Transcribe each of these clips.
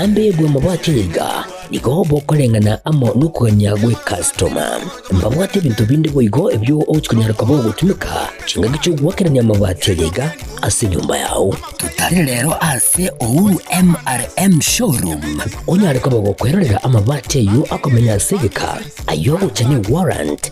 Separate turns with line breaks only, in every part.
Ambegwe mobwate yaika, nigo bokoreng'ana amo nokogania gw'ekastoma. Mbabwate ebinto binde boigo ebio ogochia konyara koba ogotumeka chingaki chi'ogoakerania amabati aya yaika ase enyomba yao. Totare rero ase Uhuru MRM Showroom onyare koba ogokwerorera amabati ayio akomenya ase egeka, ayio ogocha ne warrant,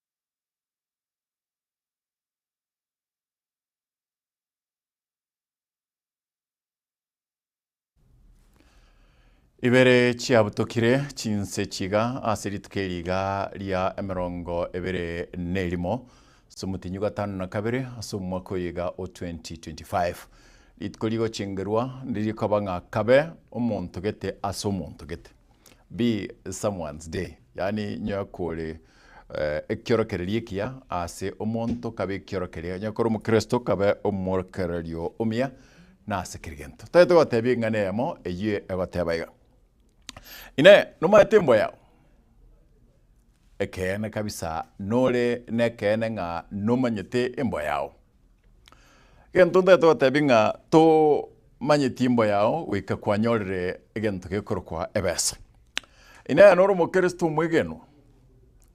Ibere chiabutokire chinse chiga ase rituko eri iga ria emerongo ebere nerimo somotinyi gatano na kabere ase omwaka oyo iga o 2025. Rituko rigochengerwa ndirikoba ng'a kabe omonto gete ase omonto gete. Be someone's day, yaani onye kore ekiorokererio ekiya ase omonto kabe ekiorokererio, onye kore omokristo kabe omorokererio omuya na ase kera egento. Totagete gotebia eng'ana eyemo eyio egoteba iga, Inee! Nomanyete embwa yao? Ekeene kabisa nore nekeene ng'a nomanyete embwa yao. Egento ntaete gotebi ng'a tomanyeti imbo yao goika kwanyorire egento gekorokwa ebesa. Inee nore omokristo omwegenwa?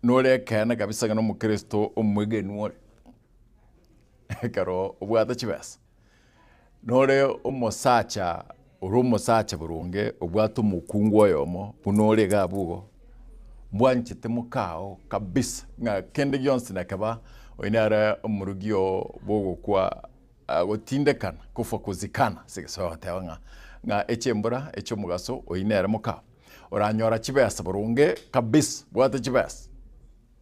Nore ekeene kabisa ng'a nomokristo omwegenwa ore ekero obwate chibesa? Nore omosacha ore omosacha boronge obwate omokungu oyomo buna ore iga abwo igo, mbwanchete mokao kabisa ng'a kende gionsi nakeba oyi nare omorogi oo bw'ogokwa ah, gotindekana kufa kuzikana ase egesaku agateba ng'a ng'a echembura echi'omogaso oyi nere mokao oranyora chibesa boronge kabisa bwate chibesa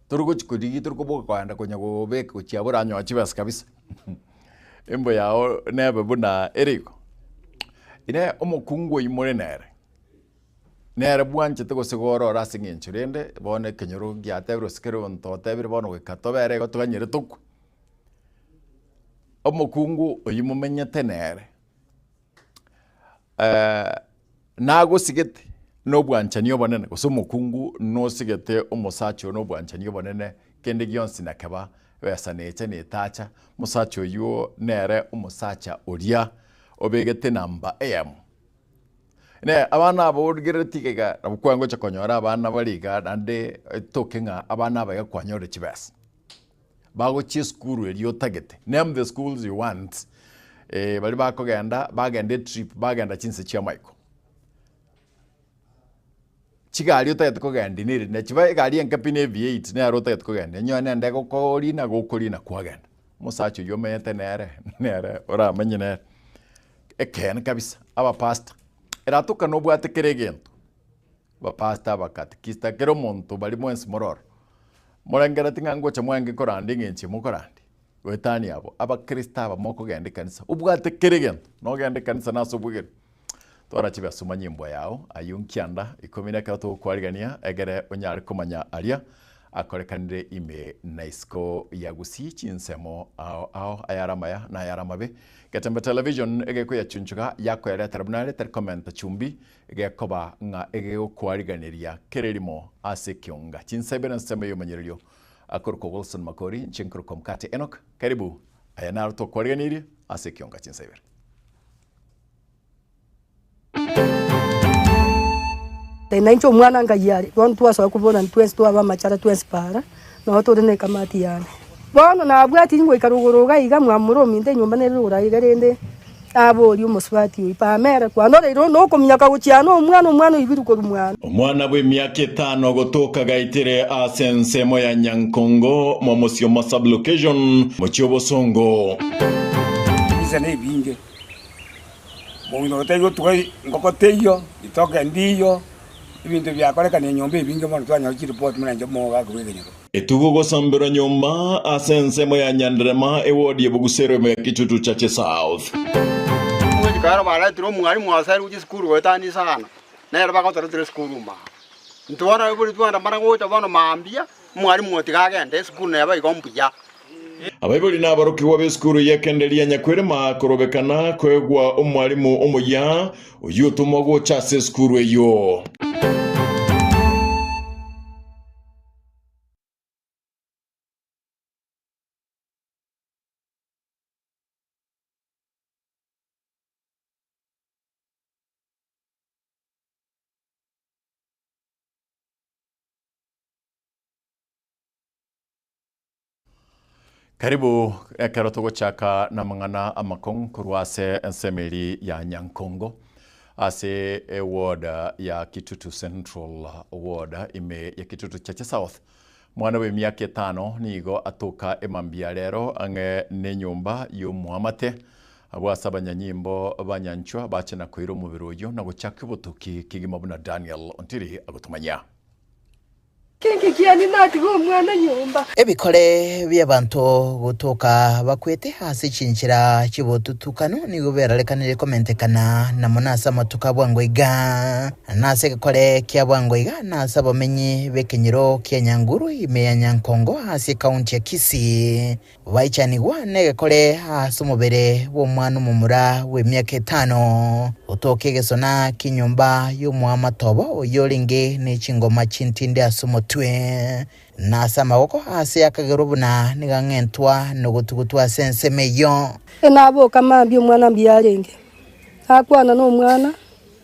tori gochi korigia tori koboka koenda konya gobeka gochiabora anyoe chibesa kabisa. Emboyo yao nebe buna ere igo. Ere omokungu oimore nere, nere bwanchete gose gore ore ase eng'encho rende bono ekenyoro giatebiwe gose kero onto otebire bono goika tobere igo toganyire tokwe, omokungu oyio momenyete nere. nagosigete nobwanchani obonene, gose omokungu nosigete omosacha oyo nobwanchani obonene, kende gionsi nakeba ebesa necha netacha, omosacha oyio nere omosacha oria obegete namba eyemo. Ne abana aba origerereti iga iga nabo kwangocha konyora abana bare iga naende etoke ng'a abana aba iga kwanyorire chibesa. bagochia esukuru eria otagete, name the schools you want, eh, baria bakogenda, bagenda etrip, bagenda chinse chi'amaiko. Chigari otagete kogendia neri ne chiba egari enke pi na ev8 nero otagete kogendia, onye one nende gokorina gokorina kwagenda. Omosacha oyio omenyete nere, nere oramenye nere. Ekeene kabisa, abapastor, eratokana obwate kera egento. Bapastor, abakatikista, kera omonto bari mwensi mororo. Morengereti ng'a ngocha mwange koranda eng'enchia mokorandi? Goetania abo abakristo abamo okogenda ekanisa. Obwate kera egento nogenda ekanisa nase obwegenwa. Twara chibe asoma nyimbo yao ayio nkianda ikomi nekero togokwarigania egere onyare komanya aria akorekanire ime na isiko ya Gusii chinsemo ao ao ayare amaya na ayare amabe. Getembe Television egekoyachunchuga yakoyaretera buna are tari komenta chumbi Gekoba ng'a egegokwariganeria kera erimo ase ekionga. Chinsa ibere nsemo y'omonyererio akorokwa Wilson Makori, inche nkorokwa Mkate Enock. Karibu, aya naro tokwariganirie ase ekionga chinsa ibere.
Nainche omwana ngaiyo are, bono twasoa kobua na intwensi twaba amachara twensi paara. Nao tore nekamati yane. Bono nabwati ngoika rogoro iga iga mwamura ominto enyomba nere rogoro aiga rende naborie omosubati oyio, Pamela, kwanoreire onde okominyoka gochia ano omwana omwana oigwire korwa mwane? Omwana bw'emiaka etano
gotoka agaitire aase ensemo ya Nyankongo mwa Mosioma Sub-Location, Mochie Obosongo.
Ebise nebinge, monto otaigotugwa ngoko teiyo, ritoke ndiiyo. ebinto ebi biakorekana enyomba ebinge mono twanyora chireport buna inche omogogo ake bw'ekenyoro. Etugo gosomberwa
nyomba ase ensemo ya Nyanderema ewodi ya Bogusero ime ya Kitutu Church South. Omogika
ero baretire omwalimu ase aria gochia esukuru goetania isano, nere bagotoretera esukuru mambia. Intwe bono ababori twanda mana gocha bono mambia. Mwarimu gotiga agende esukuru na eba igo mbuya. Abaibori
na aborokigwa b'esukuru y'ekenderia ya Nyakwerema korobeka na koegwa omwarimu omoyia oyio otomwa gocha ase esukuru eyio. Karibu ekero togochaka namang'ana amakong'u korwa ase ensemo eri ya Nyankongo ase eward ya Kitutu Central ward ime ya Kitutu Chache South. Mwana bw'emiaka etano nigo atoka emambia rero ang'e nenyomba y'omoamate abwo ase abanyanyimbo banyanchwa bache nakoira omobere oyio nagochaka obotoki kegima buna Daniel Ontiri agotomanyia. Inki kiani
natiga omwana nyomba? Ebikore
bi'abanto gotoka bakwete ase chinchera chi'obotutukanu nigo berarekanirie komentekana na mono ase amatuko a bwango iga, na ase egekore kia bwango iga, na ase abamenyi b'ekenyero kia Nyanguru ime ya Nyankongo ase ekaunti ya Kisii. Baichanigwa negekore aase omobere bw'omwana omomura bw'emiaka etano, otooke egesona ki'enyomba y'omoamatoba oyio orenge ne chingoma chintindi ase omotwe, na ase amaboko, aase akagerwa buna nigang'entwa nogotugutwa ase ensemo eyio. Enaboka
mambia omwana mbuyarenge, nakwana nomwana,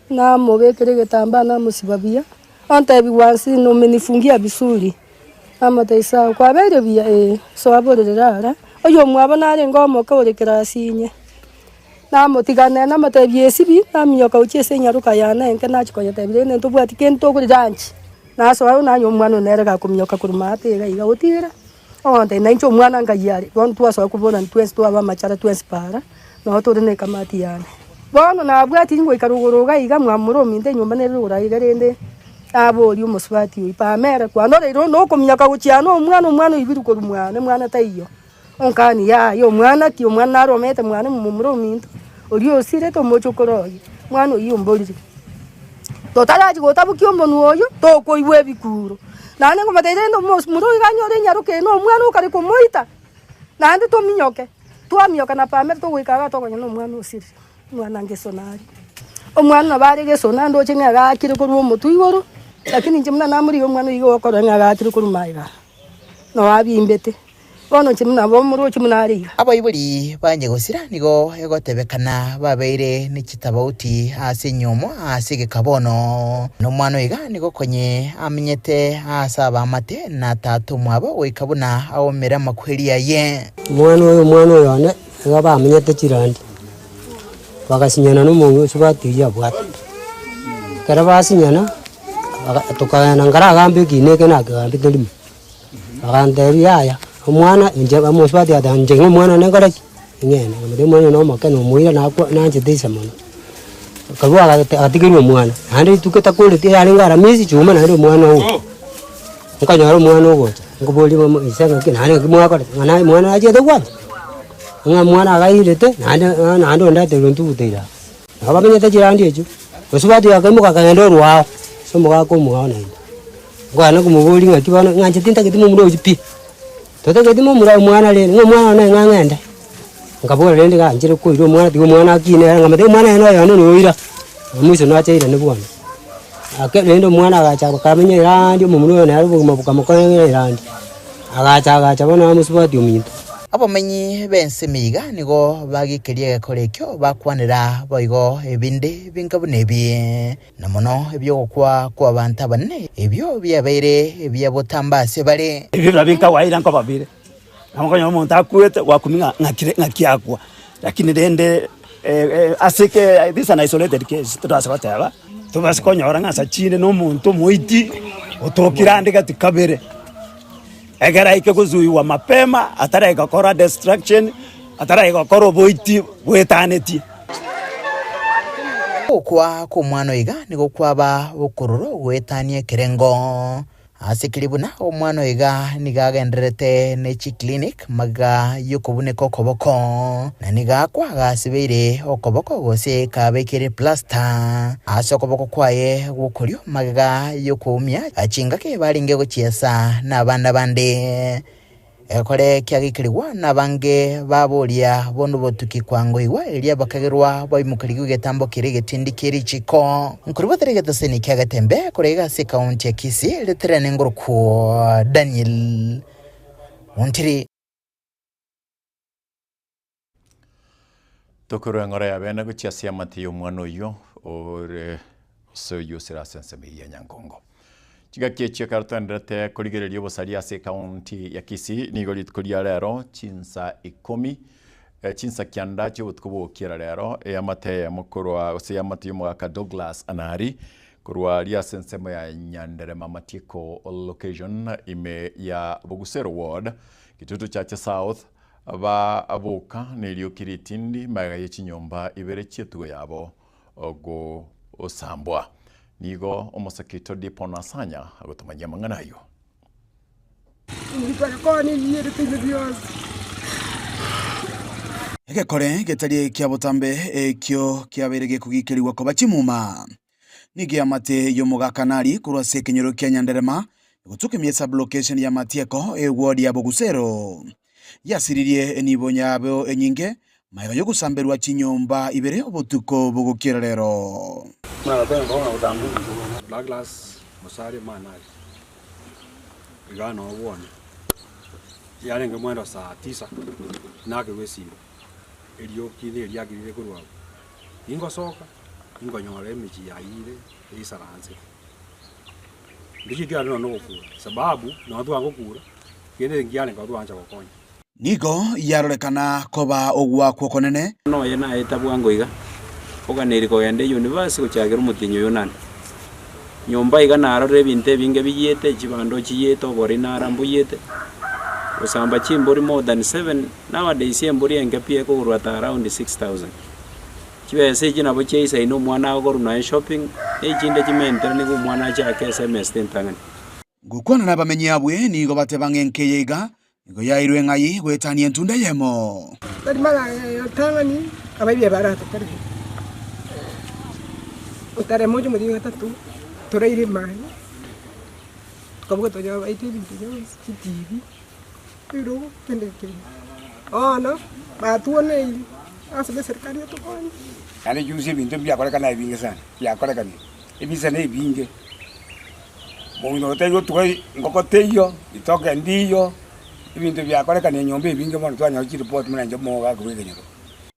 Namobekire egetambaa namosiba buya, ontebigwa nsi na umenifungia vizuri. Namotebia sawa, kwabeire buya? Ee. Soa borere ara, oyomwabo narenge omoke ore kirasi inye. Namotiganera namotebia esibi, naminyoka gochia ase enyaroka yane enke nachia koyetebia rende ntobwati kende tokore lunch. Nasoa nanywa omwana one nere gakominyoka korwa maate iga iga gotigera. Ogontainia nainche omwana ngai are, bono twasoa koburana twensi twabe amachara twensi para, nao tore ne ekamati yane. Bono nabwati ngoika rogoro iga iga mwamura ominto enyomba nere rogoro aiga rende naborie omosubati oyio, Pamela, kwanoreire onde okominyoka gochia ano omwana, omwana oibiru korwa mwane, mwana taiyo. Onkani, Yaya, omwana ki? Omwana naro omete mwane momomura ominto, oria osirete omochokoro oye. Mwana oyio omborire. Totarati gotabokia omonwa oyio, tokoigwa ebikuuro. Naende nkomotebirie rende omosunte oyo ganyore ore enyaroka eye nomwana okare komoita, naende tominyoke. Twaminyoka na Pamela togoika iga tokonyora nomwana osirire, omwana ngeso nare. Omwana nabo are geso naende oche ng'a egakire korwa omotwe igoro, lakini inche buna namorigia omwana iga okorora ng'a egakire korwa magega. noabimbete, bono inche buna naba omorwoti buna are iga. Abaibori bange
gosira nigo egotebekana babeire ne chitabauti ase enyomo ase egeka bono, na omwana oiga nigo konye amenyete aase abaamate na tata omwabo goika buna aumere amakweri aye. Omwana oyo, omwana
oyo one. Igo bamenyete chirandi, bagasinyana na omong'ina oria batebia abwate. Ekero basinyana, baga tokagenda nkaragambe ekiina eke nakegambete rimo, bagantebia yaya, omwana inche omonto oria batebia inche ng'o omwana one nkore ki? Ing'ee, omwana one omokene omoira nakwa nanchete inse mono. akarua agate agatigerwa omwana, naende rituko etakoreti yarenge ara miezi chiume naende omwana owe, nkonyora omwana ogocha, nkoboria momo ise ng'aki naende ng'aki mwakorete ng'a naye omwana nachete gwancha, ng'a omwana agairete naende ng'a naende onde ateirwe ntugu teira aa. Nabo bamenyete chirandi echio, bosio batuya bakaimoka bakagenda orwa ao, ase omogaka omwao naende. Nkogenda komoboria ng'aki bono ng'anchete ntagete momura oyio pi. Totageti momura omwana rende, ng'a omwana one ng'a ng'ende. Nkabora rende ng'a nchire koira omwana, tiga omwana akine ere, ng'a matayo omwana oye noyomo noyo oira. Maiso nache aira ne bono. Ake rende omwana agacha akamenya eranndi omomura oye nere obogima bokamokorera eranndi. Agacha agacha bono amosubati ominto. Abamenyi
b'ensemo iga nigo bagekeria egekora ekio, bakwanera boigo ebinde binga buna ebi. Na mono ebi'ogokwa kw'abanto abanene ebio biabeire ebia botamba ase bare. Ebio nabio nkagwaira nkoba
bire, na okonyora omonto akwete, gwakumia ng'a ng'akire ng'aki akwa. Lakini rende ase ke this is an isolated case todaasa goteba, tobaasa konyora ng'a ase chinde na omonto omoiti otokire ande gati kabere. Ekeraike gosuigwa mapema, atarai gokora destruction, atarai gokora oboiti bwetanetie.
Gokwa kw'omwana oiga nigo kwaba bokororo goetania ekerengo. Ase keria buna omwana oiga nigo agendererete ne chiclinic magega y'okobuneka okoboko, na nigo akwa gasibeire okoboko gose kabekire plaster ase okoboko kwaye gw'okorio, Magega y'okoumia chingaki barenge gochiesa nabande bande, egekore kiagekerigwa nabange ba boria bono botuki kwangoigwa, erio bakagerwa baimokerigwe egetambo kere egetindi kie richiko. Nkori batera egeteseni kia getembe korwa iga ase ekaunti ya Kisii riterane ngorokwo Daniel Muntiri.
Tokorwa eng'ora ya bene gochia ase amate y'omwana oyio ore ase oyio osire ase ensemo eyio ya Nyankongo. Chingaki echio ekero toenderete korigereria obosaria ase ekaunti ya Kisii, nigo rituko ria rero chinsa ikomi eh, chinsa kianda chiobotuko bw'ogokiera rero eamate eyemo korwa ase eamate y'omogaka Douglas Anari korwa ria ase ensemo ya Nyanderema Matieko location ime ya Bogusero ward Gitutu Chache South Baboka nerioki ritindi, magega ye chinyomba ibere chi'etugo yabo gosambwa. Nigo omosakito Dipon asanya gotomanyia amang'ana ayio.
Egekore getari ekio botambe ekio kiabeire gekogikerigwa koba chimuma. Nigo eamate y'omogakanari korwa ase ekenyoro kia Nyanderema egotuka emiya sublocation ya Matieko egwori ya Bogusero. Yasiririe enibo yabo enyinge magega y'ogosamberwa chinyomba ibere obotuko bogokiera rero. Douglas
Musalia Manari, Igana Obwone, yarenge mwendo saa tisa inakirwe esiro. erioki neriagirire korwa abwo, ningosoka ingonyora emechie yayio ere eisaransete. Ndichikia kiagera nonya nogokura, esababu nonya twagokura, kende nkiare nkaba twancha gokonya. Nigo
yarorekana koba ogoakwa okonene. Buna oye naeta
bwango iga, oganeiri kogenda eyunivasi gochagera omotienyi Oyunani. Nyomba iga narorire ebinto ebinge biyiete, chibando chiyiete, oborina ara mbuyete, gosamba chimbori more than seven. Nowadays embori enke pi ekogurwa ata around 6000. Chibesa echi nabo chia isaini omwana agoru naye shopping, ne echinde chimentera nigo omwana achake esemester entang'ani. Ngokwana
nabamenyi abwe nigo bateba ng'a enke eye iga nigo yairwe ng'ai goetania entunda eyemo. Tari magega ya
otang'ani abaibi abaratokorere, otare moche omochie gatatu toraire mani, tokabuga tonya baite ebinto bionsi, chitibi, Naende chionsi
ebinto ebi biakorekana aye binge sana, biakorekana ebise na ebinge. Omogina oyo taiyo otuga engoko teiyo, ritoke ndiiyo,
ebinto biakorekana enyomba ebinge mono twanyora chireport buna inche omogaka bw'ekenyoro.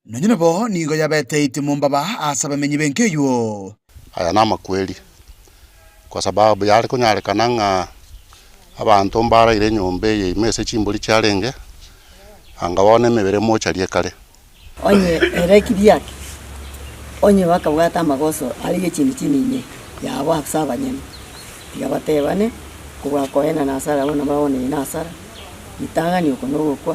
Nonye nabo
nigo yabeteiti mombaba ase abamenyi b'enka eywo. Aya namakweri,
kwa sababu yare konyarekana ng'a abanto mbaraire enyomba eye ime ase chimbori chiarenge, anga bono emebere mocharie kare. Onye
ere kidiaki, onye bakabwata amagoso aria y'echindi chinyinyi yabo ase abanyene, tiga batebane, Okobua koenana asare abwo nabwo abwo neyina asare, ritang'ani oko nogokwa.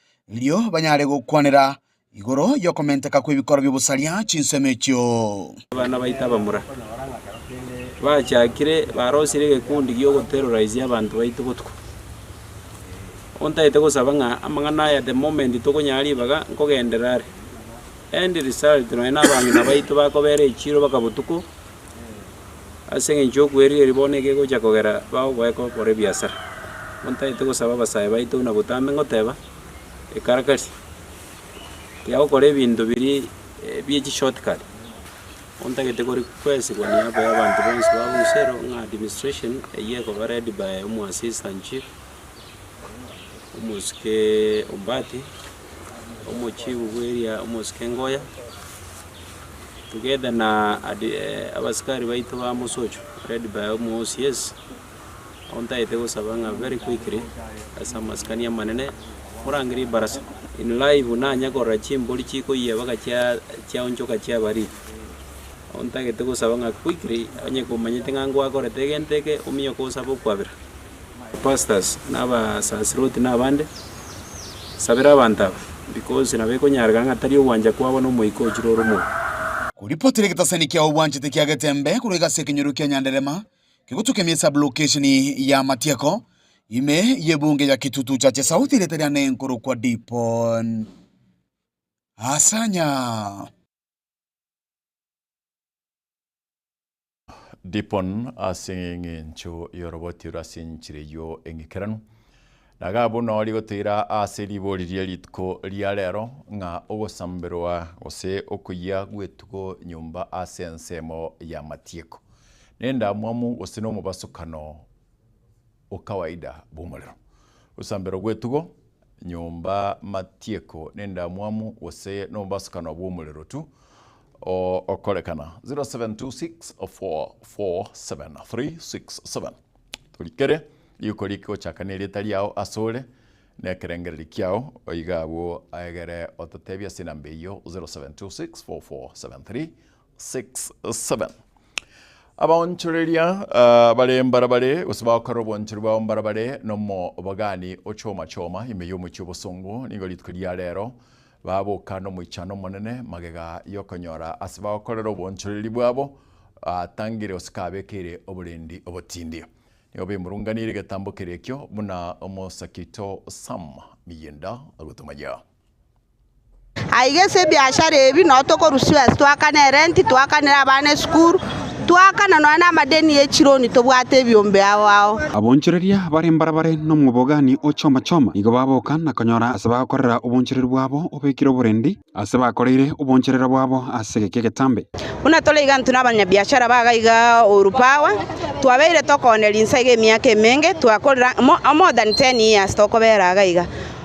erio banyare gokwanera igoro y'okomenteka kw'ebikoro bi'obosaria chinsemo echio. Abana baito
abamura bachakire barosirie egekundi gi'ogoterora ise y'abanto baito botuko. Ontagete gosaba ng'a amang'ana aya the moment tokonyara ribaga nkogenderere are. End result nonya nabang'ina baito bakobera echiro baka botuko. Ase engencho y'okwerigeria bono ekegocha kogera bagogoeka okora ebiasara, nigo ntagete gosaba abasae baito buna botambe ngoteba, ekarakari tiga gokora ebinto biria bie chi short cut, nigo ntagete kore kwesigwa na eago ya abanto bonsi ba Busero ng'a administration eywo ekoba led by omo assistant chief, omosuke Ombaati. omochigu bw'eria omosike ngoya, together na adi abasikari baito ba mosocho led by omo OCS, nabo ntagete gosaba ng'a very quickly ase amasikani amanene, morange ribarasa in live nanye korora chimbori chikoyia mpaka chia chiaonchoka chiabariri. Nabo ntagete gosaba ng'a quickly, onye komanyete ng'a ngwakorete egento eke, omioka osabe okwabera. Pastors, na abasaserdoti, na abande, sabera abanto aba, because nabo ekonyarekana ng'a tari ogwancha kwabo na Omoika ochire ore omouga. Koripotera
egetasani kiao obwanchete kia getembe korwa egasi y'ekenyoro kia Nyanderema kegotukiamia esablokesheni ya Matieko, ime y'ebunge ya Kitutu Chache South erieta riane nkorokwa Dipon Asanya.
Dipon ase engencho y'oroboti rw'ase enchera eyio eng'ikeranu. Na ga buna ori gotoira ase ribori rie rituko ria rero, ng'a ogosamberwa gose okoyia gw'etugo nyomba ase ensemo y'amatieko, n'endamwamu gose n'omobasukano, okawaida bw'omorero, gosambera gw'etugo, nyomba, matieko n'endamwamu, gose nomobasukano bw'omorero tu okorekana. 0726044737 Torikere riko ri'ke gochaka nerieta riao asore nekerengererio kiao, oiga abwo aegere ototebi ase enamba eyio, 07264473 6, 7. Abaonchoreria bare mbarabare, gose bagokora obwanchori bwabo mbarabare, nomobagani o choma choma ime y'omochie obosongo, nigo rituko ria reero baboka nomoichano omonene, magega y'okonyora ase bagokorera obwanchoreri bwabo atangire gose kabekeire oborendi obotindi. Nigo baimurunganirie egetambo keria ekio buna omosakito Sam miyinda agotomaya.
Aiga ase ebiashara ebi nao tokorwa Suez twakane erenti, twakanere abana esukuru, twakana nonya namadeni ye chironi tobwate ebiombe ao ao. Abonchoreria bare
mbarabare nomobogani o choma choma nigo baboka na konyora ase bagokorera obonchoreri bwabo obekire oborendi ase bakoreire oboncherero bwabo ase egeka egetambe. Buna tore iga intwe
nabanyabiashara baga iga Uhuru Power, twabeire tokooneria inse iga emiaka emenge, twakorera more than ten years tokobera iga iga.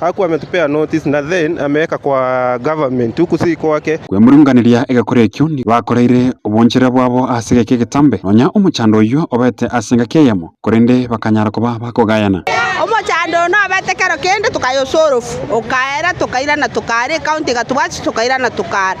Aku ame to pay a notice na then ameka kwa government to kusi kwake. Kwemurunganeria egekore
ekio nigo bakoreire obonchera bwabo ase egeka egetambe, nonya omochando oyio obete ase engaki eyemo, korende bakanyara koba bakogayana. Omochando
oo nobete kero kende, tokayosa orofu, okaera, tokaira na tokaara, ekaunti egatobwatisa, tokaira na tokaara.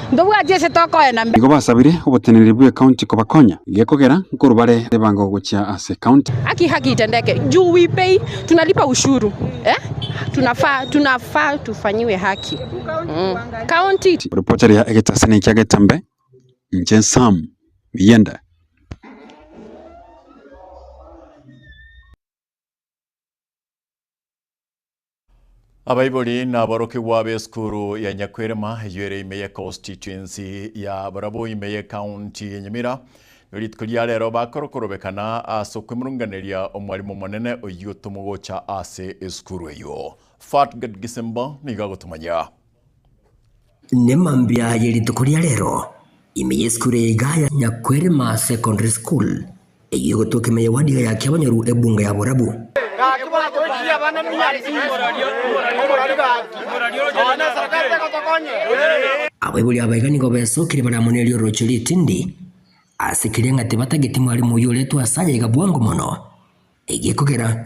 Ntobwati ase tokoena mbe. Nigo basabire
oboteneneri bw'ecounty kobakonya, gekogera nkorwa bare ebango gochia ase county. Haki haki itendeke
juu we pay tunalipa ushuru eh tunafaa tunafaa tufanyiwe haki mm. County Ripota ria
egetase na ekia getambe. Inche Sam Miyenda.
Abaibori naborokigwa b'esukuru ya Nyakwerema, eyio ere ime ye constituency ya barabwo ime ye county ya Nyamira, rituko ria rero bakorokorobekana ase okwemurunganeria omwarimu omonene oyio tomogocha ase esukuru eyio. Fatgad Gisimba nigo agotomanyia. Nemambia
ye rituko ria rero, ime yesukuru eye iga ya Nyakwerema Secondary School, eyio egotweka ime yewadiga ya kiabonyoru ebunga ya borabu. Abaibori aba iga nigo besokire baramonerie orochio ritindi ase keria ng'a tibatageti mwarimu oyio oretwa ase aye iga bwango mono, egiekogera.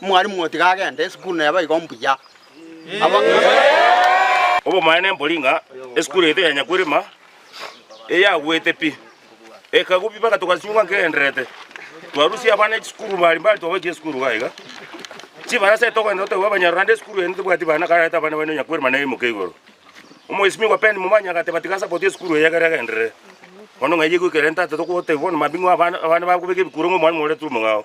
Mwalimu gotiga agende esukuru na eba igo mbuya.
Obomanene mbori ng'a esukuru yaito ya Nyakwirima eyagwete pi. Ekagwa pi mpaka togasinyugwa nkegendererete. Twarusia abana echisukuru bari mbari twabaikire esukuru iga iga. Chibarasa eria togoenda totebiwa abanyarwanda esukuru eye tibwati bana kararete abana baino Nyakwirima naimoke igoro. Omwesimigwa Ben Momanyi agateba tiga asapoti esukuru eye ekero egenderere. Bono ng'a eyio egoika erente ase togotebiwa bono mambia ng'a abana abana bagobeka ebikuro ng'a omwalimu ore turu mong'ao.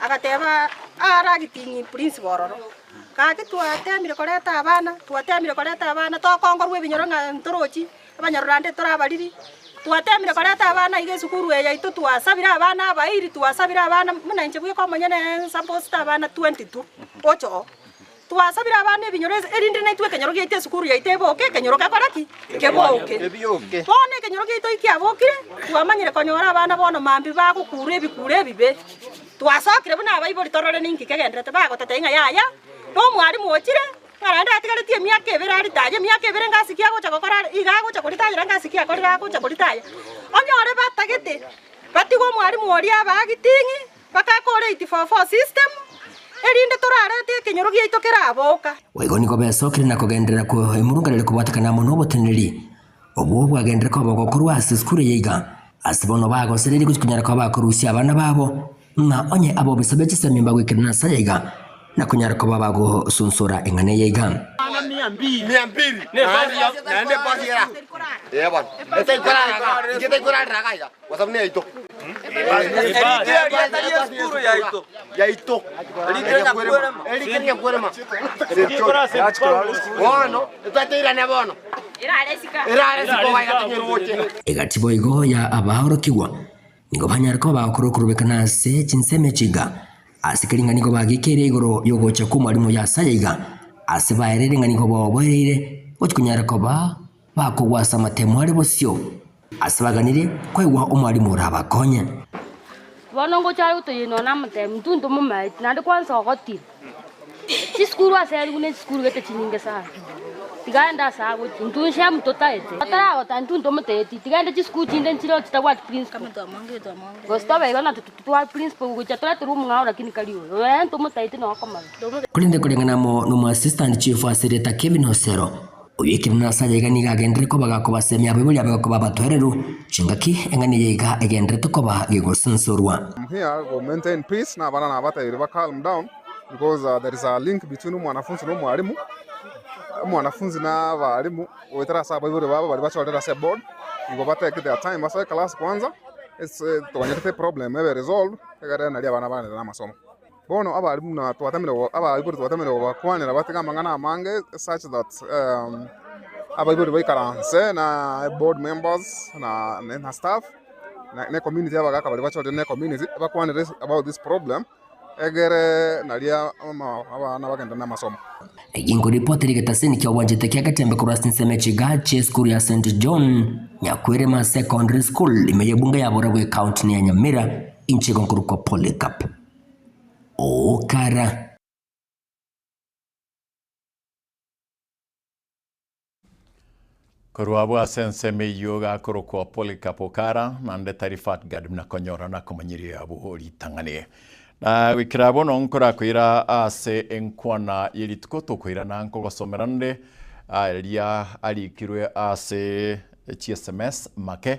Agateeba, Aare agitinyie prinsipo ororo, Gaki twateemire korenta abana, twateemire korenta abana, tokongorwa ebinyoro ng'a ntorochi abanyororande tore abariri, twateemire korenta abana iga esukuru eye yaito, twasabire abana abairi, twasabire abana buna inche bweka omonyene, suppose abana twenty tu, oche oo. Twasabire abana ebinyoro inse, erinde naitwe ekenyoro giaito esukuru yaito eboke, ekenyoro gekore ki? Kebioke. Bono ekenyoro giaito kiabokire, twamanyire konyora abana bono mambia bagokuura ebikuuro ebibe. Twasokire buna abaibori torore ninki kegenderete, bagoteta ing'a yaya nomwalimu ochire, ng'a naende atigaretie emiaka ebere aritaye, emiaka ebere ngasi ki agocha gokora are, iga agocha koritayera ngasi ki akorire agocha koritaya. Onyore batagete, batiga omwalimu oria abagiting'i, Bakakoora 844 system erinde torarete ekenyoro giaito keraboka. Boigo nigo besokire
na kogenderera kwo emurunganire kobwatekana amo noboteneneri obwo bwagenderere koba ogokorwa ase esukuru eye iga. Ase bono bagosereria gochia konyara koba bakorusia abana babo, ng'a onye aba obisa bwe chisemi mbagoikera na saya iga, na konyara koba bagosunsora eng'ana eye iga.
Egati boigo
ya abaorokigwa nigo banyare koba okorukurubeka na ase chinsemo echi iga, ase keria ng'a nigo bagekeire igoro y'ogocha kw'Omwalimu Yasae iga, ase baerire ng'a nigo boboereire gochia konyara koba Bakogwasamate more bosio, ase baganire koigwa omwarimu orabakonye.
Bono ngocha are gotoyeniwa namotemi, Mtuntu momaeti, naende kwansa ogotira. Chisukuru ase ere buna echisukuru gete chinyinge sana. Tiga aende ase agochia, ntunche mtotaete. Otaragotara ntuntu omotaeti, tiga aende chisukuru chinde nchire chitabwati principle. Gose tobe igo nato totware principle gochia toreterwe omong'ao lakini kari oyo. Oyo aye ntomotaeti nokomanya. Korende koreng'ana
amo nomwassistant chief ase rieta Kevin Osero, Oyo ekero nase aye iga nigo agenderere koba gakobasemia abwo boria babe koba abatoereru, chingaki eng'ani eye iga egendererete koba gegosunsorwa. I'm here go
maintain peace nabana nabatebire ba calm down because there is a link between omwanafunzi na omwalimu, omwanafunzi na abalimu goetera ase abaibori babo baria bachorire ase board nigo ba take their time ase eclass kwanza ase tokonyerete eproblem ebe resolved egere nari abana baenderere namasomo. Bono abare buna twatamire gobakwanera batege amang'ana amange, such that abaibori baikaranse na board members na staff na ecommunity y'abagaka baria bachorire na ecommunity bakwanere about this problem egere nario abana bagende na amasomo. Eyio nkoripoti
ere egetasini ki'ogwanchete kia Gatembe korwa ase ensemo ya chiga chi'esukuru ya St John Nyakwerema Secondary School, ime y'ebunge ya Boragwe, ecountini ya Nyamira, inche igo nkorokwa Polycarp. ogokara.
Korwa abwo ase ensemo eyio gakorokwa Polycarp Okara, na Ndeta Rifatgard buna konyora na komanyeria abwo ritang'ani. Na goikera bono nkorakoira ase enkwana ye rituko tokoirana nkogosomera nde aria arikirwe ase chi sms make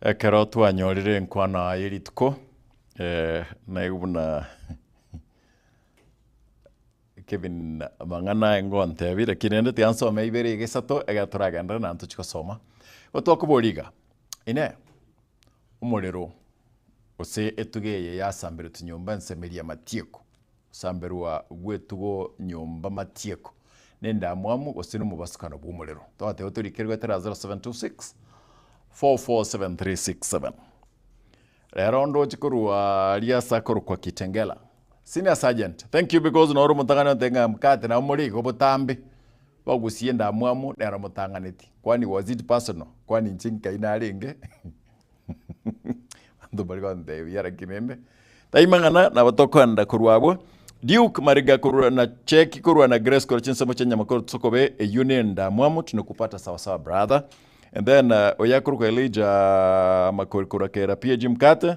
Ekero twanyorire enkwano aa y'erituko, eh, naigwe buna Kevin amang'ana aye ngontebie, lakini rende tiansomire ibere iga isato, egero toragenderere naende tochi gosoma. Igo twakoboria iga, Inee, omorero, gose etuga eye yasamberetwe nyomba ensemeri amatieko, gosamberwa gw'etugo nyomba matieko, nendamwamu gose nomobasukano bw'omorero. Twateba torikerigwe tera 0726 447367. Rero ndoche korwa aria ase akorokwa Kitengela, Senior Sergeant, thank you because noro omotang'ani ontebia ng'a mkate nabo morie iga obotambe, bagosia endamwamu nero motang'aneti, kwani was it personal? Kwani inche nkai narenge? abanto mbare gontebia laki rende taima ng'ana nabo tokoenda korwa abwo. Duke Mariga korwa na Cheki korwa na Grace korwa chinsemo chia enyama korwa Tusokobe, eyio ne endamwamu tunakupata sawa sawa brother. And then uh, oyo akorokwa Elijah Makori korwa Kera PAG mkate,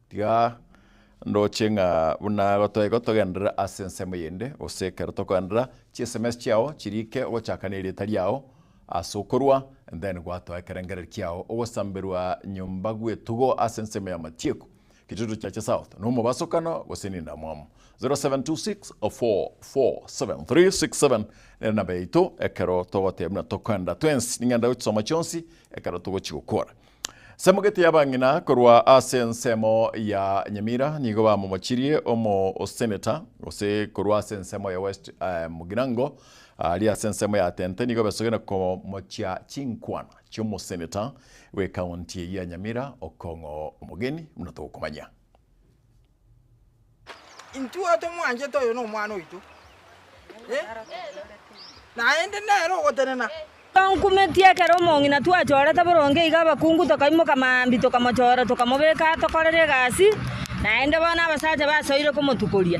Tiga ndoche ng'a buna gotoegwa togenderere ase ensemo eyende, gose ekero tokogenderera chiSMS chiao chiriike ogochaka nerieta riao ase okorwa, then gwatoa ekerengererio kiao ogosamberwa nyomba gw'etugo ase ensemo y'amatiku, Kitutu Chache South, na omobasokano gose nindamwamu. 0726447367 nere namba yaito ekero togotebia buna tokoenda twensi. Ning'ende gochsoma chionsi ekero togochigokora. Samugeti abang'ina korwa ase ensemo ya Nyamira nigo bamomochirie omoseneta, gose korwa ase ensemo ya West eh, Mugirango aria ase ensemo ya Tente nigo besogena komochia chinkwana chi'omoseneta bw'ekaunti eye ya Nyamira okong'o omogeni buna tokomanya.
Intwe tomwanchete oyo nomwana oito, naende nere ogotenena. Twankumetie
ekero omong'ina twachorete boronge iga abakungu tokaimoka mambia tokamochora tokamobeka atokorere egasi, naende bono abasacha basoire komotukoria.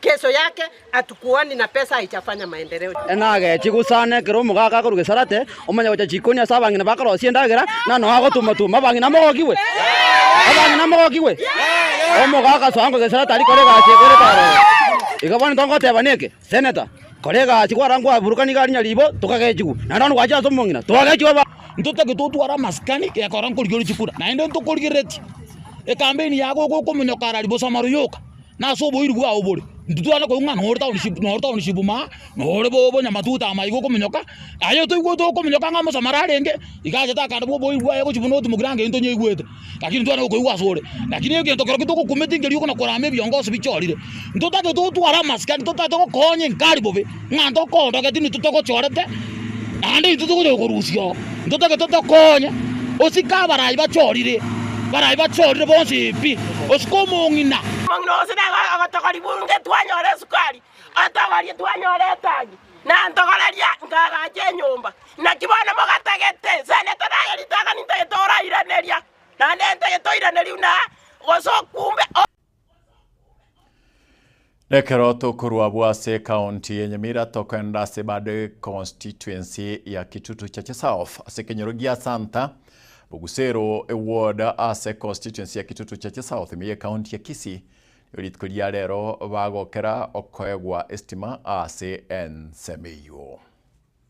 Kesho yake hatukuoni na pesa haijafanya maendeleo. Ena agechia gosana
ekero omogaka akorwa Geserate, omanya gocha chikoni ase abang'ina bakorosia endagera, na nonya agotuma-tuma abang'ina mogokigwe. Abang'ina mogokigwe. Omogaka asoa ng'a Geserate aria kore egasi egwere tororo. Iga bono ntogoteba neke, Senator, kora egasi kwara nkwaburukana iga rinya ribo tokagechigwa, naende bono gwacha ase omong'ina togagechigwa aba. Ntotagete otware amasikani gekora nkorigereria chikura, naende ntokorigereretie. Ekampeni yago iga okomonyoka ara riboso amara oyoka, Nase oboiru bwao bore, ntitware koigwa ng'a nore townishipu maa, nore bonyamatuta ama iga okominyoka, aye toigwete okominyoka ng'a omosomari arenge, iga achete akande bwa oboiru bwaye gochia buna otimokire ango eyio tonyaigwete, lakini ntitware koigwa ase ore. Lakini egento kerokio togokumete ngerio okona korama ebiongosi bichorire, ntotagete otware amasikani, ntotagete gokoonya enkari bobe. Ng'a ntokondogeti intwe togochorete, naende intwe togocha gokorusia oo, ntotagete otokonye, osike abarai bachorire, barai bachorire bonsi pi, osike omong'ina. Omong'ina onsi
nigo agotogori bunge twanyora esukari, atogorie twanyora etangi, na ntogoreria nkagache enyomba. Naki bono mogatagete, senete naye ritang'ani ntagete orairaneria, naende ntagete oiranerio na gose okumbe o.
Nekero tokorwa abwo ase ekaonti ya Nyamira tokogenda ase bado econstituency ya Kitutu Chache South ase ekenyoro gia Santa Bogusero eward ase econstituency ya Kitutu Chache South ime y'ekaonti ya Kisii. Nigo rituko ria rero bagokera okoegwa estima ase ensemo eyio.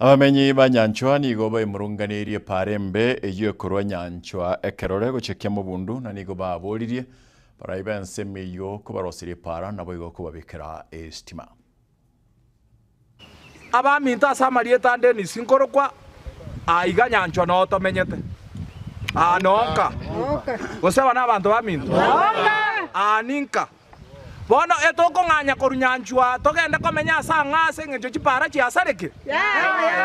Abamenyi ba nyanchwa nigo baimurunganirie paare embe eyio ekorwa nyanchwa ekerore gochekia mobundu, na nigo baaboririe barai b'ensemo eyio kobaroserie paara naboigo kobabekera esitima.
Abaminto ase amarieta a Dennis nkorokwa aa iga nyanchwa noo tomenyete aa noo nka? Gose aba nabanto baminto? Aa ninka? Bono etokong'anya korunyanchwa togende komenya ase ang'aa ase engencho chipaara chiasareke?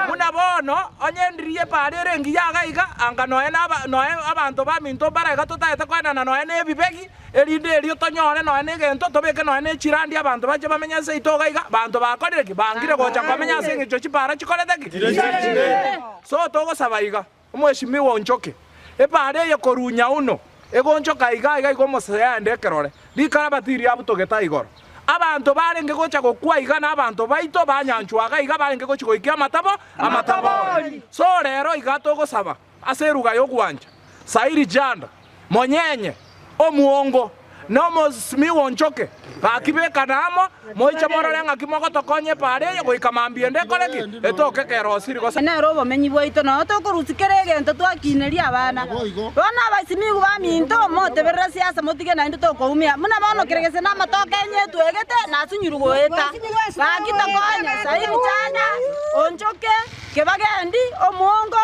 Buna bono, onye endiri y'epaara ere engiya iga iga, anga noe noe abanto baminto mbare iga totaete koenana noe nebibegi, erinde erio tonyore noe negento tobeke noe ne chirandi abanto bache bamenye ase yaito iga iga, abanto bakorire ki? Bangire gocha komenya ase engencho chipaara chikorete ki? So togosaba iga. Omweshimiwa onchoke, ebaare eye korunya uno egonchoka iga iga iga omosaya ande ekerore, rikarabati riabutogete igoro. Abanto barenge gocha gokwa iga nabanto baito banyanchwa iga iga barenge gochi goikia amatabo amatabori. So rero iga togosaba ase eruga yogwancha, Sairi Janda. Monyenye omuongo na omosmi w'onchoke. Gaki bekane amo, moiche morore ng'aki mogotokonya epo are eye goika mambia ende ekore ki? Etooke ekero gose rigoso. Aye nere obomenyi bwaito,
noyo tokorusia kera egento twakiineria abana. Bono abaisimigu baminto, moteberere ase yasa motige naende tokoumia. Buna bono kera gese namatoke enye etwegete, nasunyuru goeta. Gaki tokonye, sairi chanya, onchoke, kebagendi, omuongo,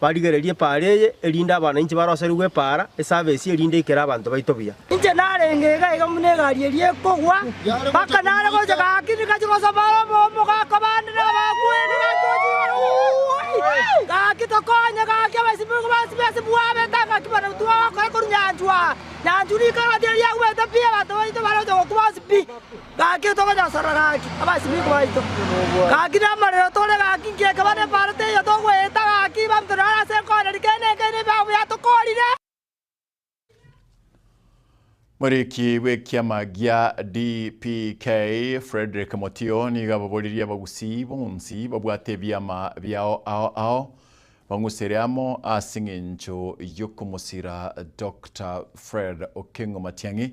Barigererie epaara eye, erinde abanainche baroserigwe epaara esabesi, erinde aikere abanto baito buya. Inche narenge
iga iga buna egari eria ekogwa, mpaka nare gocha gaki nigachie gosaba obomo gakwa bande nabakweri gachie gochia gaki tokonye gaki abasibyi boigo basibe ase bwabete ngaki buna twagokora korwa nyanchwa nyanchwa rikoro tiga riagwete pi abanto baito baroche gokuba ase pi. Gaki tokonyasora gaki abasimigwa baito, gaki namarero tore gaki inki ekaba nepaaro teiyo togoeta gaki abanto naro ase enkooneri kende nekeene ebiao biatokoorire.
Moriiki bw'ekiama gia DPK, Fredrick Motio nigo ababoririe abagusii bonsi babwate ebiama biao ao ao bang'usere amo as'eng'encho y'okomosira Doctor Fred Okengo Matiang'i,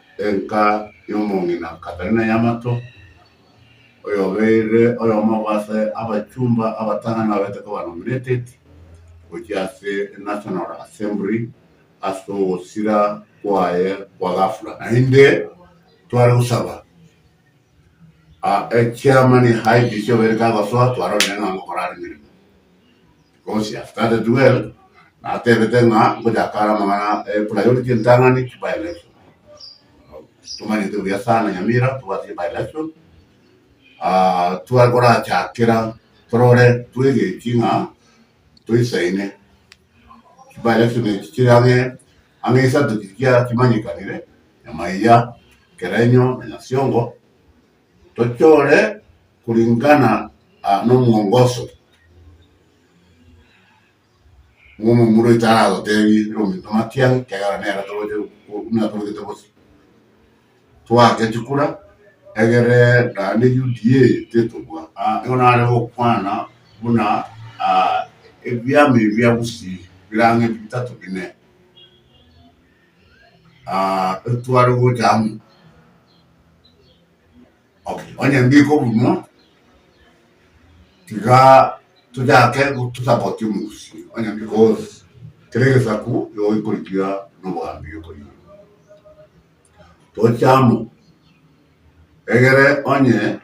Enka y'omong'ina Katarina Yamato, oyobeire oyomo bw'ase abachumba abatang'ani babeete koba nominated gochia ase National Assembly ase ogosira kwaye kwa gafula. Naende tware gosaba Echairman IBC obeire kagosoa twarorire ng'a ngokora are emeremo because he has started well natebete ng'a ngochaka are amang'ana e priority entang'ani ki by election tomanyete buya sana Nyamira tobwate by election ah, tware korachakera torore twegechi ng'a toisaine by election echi chire ang'e Ang'e isato chiria chimanyekanire, nyamaiga, ekerenyo, na nyasiongo, tochore koringana nomwongoso bw'omomura oito aratotebie, Ere ominto matiang'e, ekiagera nere togocha buna torogete bosio. Twake chikura, egere naende UDA tetobua. Nigo nare gokwana buna ebiama ebi bia Gusii birang'e bitato bine ebitware gocha amo. Okay, onye mbike obonwa, tiga tochake tosapotie omogusii onye because kera egesaku nigo gekorigia nobogambi gekorigia. Toche amo, egere onye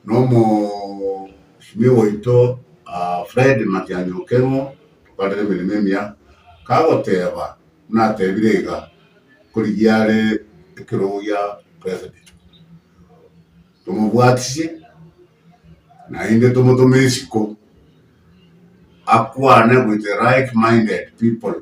nomosimia oito ah, Fred Matiang'i o Keng'o okorire emeremo emiya, kagoteba buna atebire iga, korigia are ekerogo gia president, tomobwatisie naende tomotome isiko akwane with the right minded people.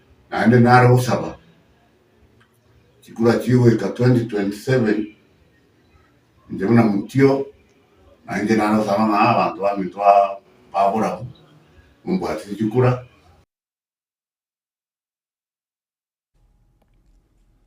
Naende nare gosaba chikura chigoika 2027, inche buna motio na inche nare gosaba ng'a abanto baminto baborabwo mombwatire chikura.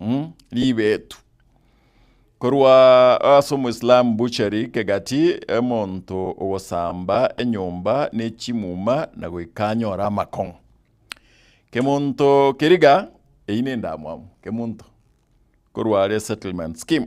mm ribeetu korwa ase omoislamu butchery kegati omonto ogosamba enyomba ne chimuma na goika anyore amakong'o kemonto keriga eyi nendamwamu kemonto korwa are settlement scheme.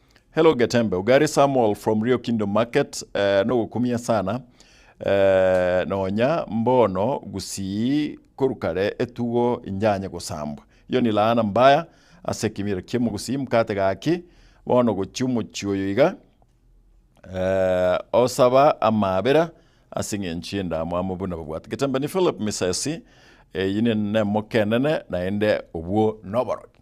Hello Getembe, Ugari Samuel from Rio Kingdom Market, eh, nogokumia sana eh, nonya mbono gusii korukare etugo injanye gosambwa. Iyo ni laana mbaya ase ekimiro kiamo gusii mkate gaki bono gochia omochie oyo iga eh, osaba amaabera ase eng'encho y'endamwamu buna babwate. Getembe ni Philip Misesi, eyi ne- nemokenene naende obwo noboroki.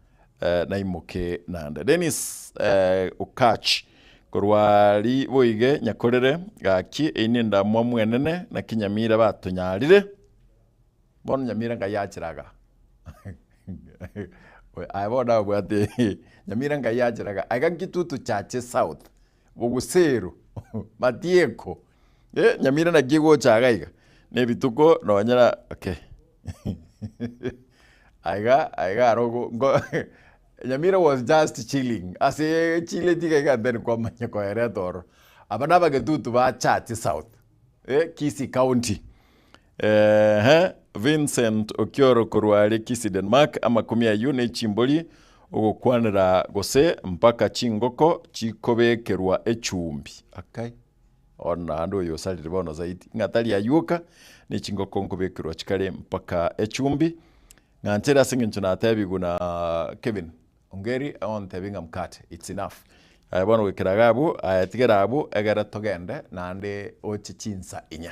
Eh, naimoke nande. Dennis eh, Okatch korwa ri boige nyakorere gaki eine ndamwa mwenene na kinyamira batonyarire bono nyamira ngai achiraga aye bono abwate nyamira ngai achiraga aiga nkitutu chache south bogusero matieko eh nyamira naki egocha iga iga ne rituko nonye na okay aiga aiga aro go go nyamira was just chilling asee chileti iga iga then kwamanya koereta ororo. Aba na abagetutu ba Church South eh Kisii County. Eeh Vincent Okioro korwa are Kisii Denmark Amakumi ayio nechimbori ogokwanera gose mpaka chingoko chikobekerwa echumbi akai Bono naende oyo osarire bono zaidi ng'a tari ayuoka nechingoko nkobekerwa chikare mpaka echumbi Ng'anchere ase eng'encho natebigwe na Kevin Ongeri ontebie ng'a mkate it's enough Aye bono goikera iga abwo aye tigera abwo egere togende naende oche chinsa inye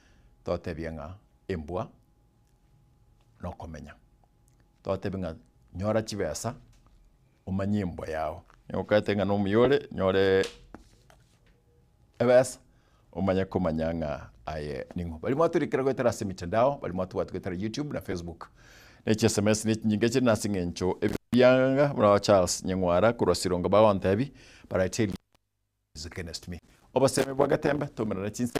totebie ng'a embwa nokomenya, totebie ng'a nyora chibesa omanye embwa yao, ogokete ng'a nomuya ore nyore ebesa omanye komanya ng'a aye ning'o. Baria mwatorikire goetera ase emetandao, baria mwatobwati goetera youtube na facebook, na echi sms na echinyinga chire nase eng'encho ebianga buna Charles Nyeng'wara korwa Sironga bagontebia, but I tell you against me, obosemi bwa getembe tomerana chinse.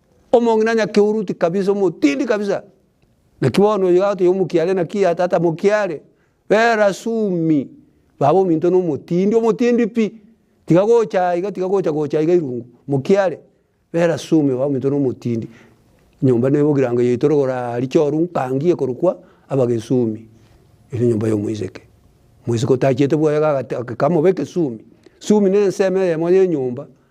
Omong'ina nyakehuruti kabisa, omotindi kabisa. Naki bono oyo igao toyomokiare, naki ya tata mokiare. Bera sumi, baba ominto na omotindi, omotindi pi. Tiga gocha aiga, tiga gocha gocha aiga irungu, mokiare. Bera sumi, baba ominto na omotindi. Enyomba na ebogirango yaito rogoro richoru nkangie korokwa Abagesumi. Ere enyomba ya omoiseke. Omoiseke otachiete bwoye iga agate ageka amobe ekesumi. Sumi na ensemo eyemo ya enyomba.